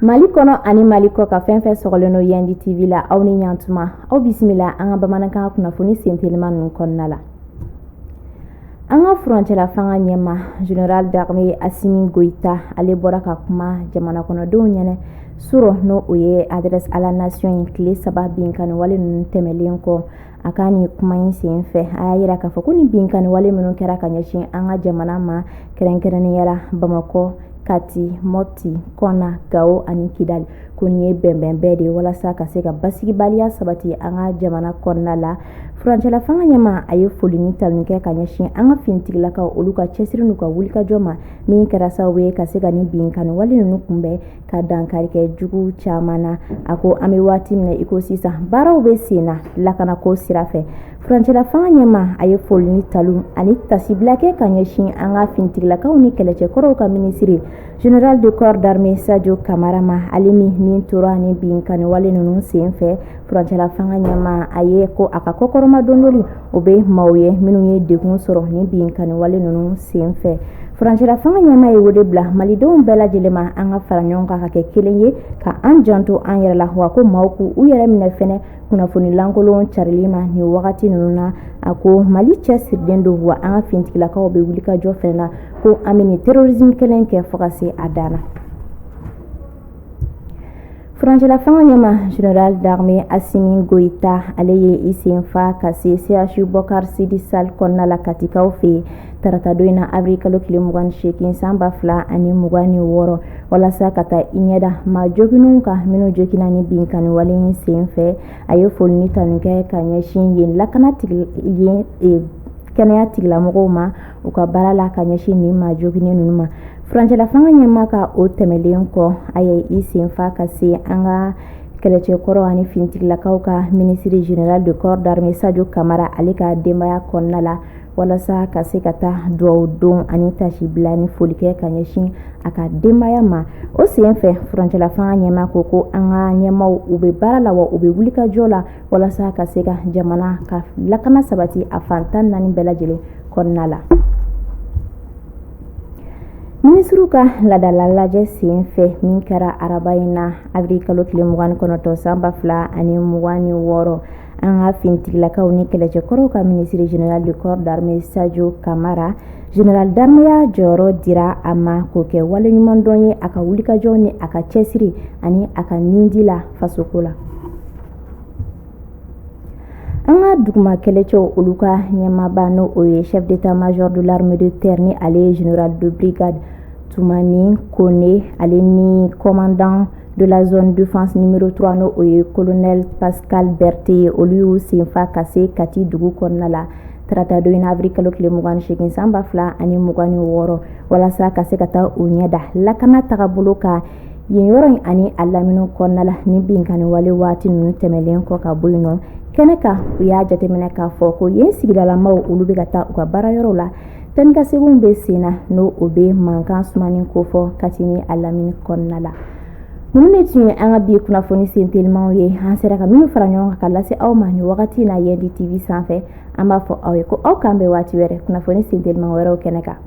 Mali kɔnɔ ani mali kɔkan fɛn fɛn sɔgɔlen don yandi tv la aw ni ɲatuma aw bisimila an ka bamanankan kunnafoni sentelima ninnu kɔnɔna la an ka furancɛla fanga ɲɛma general d'armée asimi goyita ale bɔra ka kuma jamanakɔnɔdenw ɲɛnɛ surɔ n'o ye adresse à la nation ye tile saba binkanniwale ninnu tɛmɛlen kɔ a ka nin kuma in sen fɛ a y'a yira k'a fɔ ko nin binkanni wale minnu kɛra ka ɲɛsin an ka jamana ma kɛrɛnkɛrɛnnenya la bamakɔ kati mɔti kɔna gawo ani kidali ko nin ye bɛnbɛn bɛɛ de ye walasa ka se ka basigibaliya sabati an ka jamana kɔnɔna la furancɛla fanga ɲɛma a ye foli ni tanu kɛ ka ɲɛsin an ka finitigilakaw olu ka cɛsiri n'u ka wulikajɔ ma min kɛra sababu ye ka se ka nin binkanni wale ninnu kunbɛn ka dankari kɛ jugu caman na a ko an bɛ waati min i ko sisan baaraw bɛ sen na lakanako sira fɛ furancɛlafanga ɲɛma a ye foli ni tanu ani tasibila kɛ ka ɲɛsin an ka finitigilakaw ni kɛlɛcɛkɔrɔw ka minisiri general de corps d'armée sajo kamara ma ale min ni tora nin binkanniwale ninnu sen fɛ furancɛlafanga ɲɛma a ye ko a ka kɔkɔrɔmadondoli o bɛ maaw ye minnu ye degun sɔrɔ nin binkanni wale ninnu sen fɛ furancɛla fanga ɲɛmaa ye wele bila malidenw bɛɛ lajɛlen ma an ka fara ɲɔgɔn kan ka kɛ kelen ye ka an janto an yɛrɛ la wa ko maaw k'u yɛrɛ minɛ fɛnɛ kunnafoni lankolon carili ma nin wagati ninnu na a ko mali cɛsirilen don wa an ka finitigilakaw bɛ wulikajɔ fɛnɛ na ko an bɛ nin terrorisme kɛlɛ kɛ fo ka se a dan na Furancɛlafanga ɲɛma General d'armée Asimi Goyita ale ye i senfa ka se CHU Bocar Sidy Sall kɔnɔna la Katikaw fɛ yen taratadon in na avril kalo tile mugan ni seegin san ba fila ani mugan ni wɔɔrɔ walasa ka taa i ɲɛ da maa joginnenw kan minnu joginna ni binkanni wale in senfɛ a ye foli ni tanu kɛ ka ɲɛsin yen lakana yen e, kɛnɛya tigilamɔgɔw ma u ka baara la ka ɲɛsin nin maa joginnen ninnu ma furancɛlafanga ɲɛma ka o tɛmɛlen kɔ a ye i senfa ka se an ka kɛlɛcɛkɔrɔ ani finitigilakaw ka minisiri general de corps d'armée sajo kamara ale ka denbaya kɔnɔna la walasa ka se ka taa duwawu don ani tasibila ni foli kɛ ka ɲɛsin a ka denbaya ma o sen fɛ furancɛlafanga ɲɛma ko ko an ka ɲɛmaw u bɛ baara la wa u bɛ wulikajɔ la walasa ka se ka jamana ka lakana sabati a fan tan ni naani bɛɛ lajɛlen kɔnɔna la minisiriw ka laadala lajɛ sen fɛ min kɛra araba in na avril kalo tile mugan ni kɔnɔntɔn san ba fila ani mugan ni wɔɔrɔ an ka finitigilakaw ni kɛlɛcɛkɔrɔw ka minisiri general de corps d'armée sajo kamara general d'armée ya jɔyɔrɔ dira a ma k'o kɛ waleɲumandɔn ye a ka wulikajɔ ni a ka cɛsiri ani a ka nindi la fasoko la An ka duguma kɛlɛcɛw olu ka ɲɛmaaba n' o ye chef d'état-major de l'armée de terre ni ale ye général de brigade Toumani Kone ale ni commandant de la zone défense numéro 3 n'o o ye colonel Pascal Berté ye olu y'u senfa ka se kati dugu kɔnɔna la taratadon in avril kalo tile mugan ni segin san ba fila ani mugan ni wɔɔrɔ walasa ka se ka taa u ɲɛda lakana tagabolo kan yen yɔrɔ in ani a lamini kɔnɔna la ni binkanni wale waati ninnu tɛmɛnlen kɔ ka bɔ yen nɔ kɛnɛ kan u y'a jateminɛ k'a fɔ ko yen sigidalamaw olu bɛ ka taa u ka baarayɔrɔw la taanikaseginw bɛ sen na n'o o bɛ mankan sumani kofɔ Kati ni a lamini kɔnɔna la ninnu de tun ye an ka bi kunnafoni sen telimanw ye an sera ka minnu fara ɲɔgɔn kan ka lase aw ma nin wagati na Yandi TV sanfɛ an b'a fɔ aw ye ko aw k'an bɛn waati wɛrɛ kunnafoni sen teliman wɛrɛw kɛnɛ kan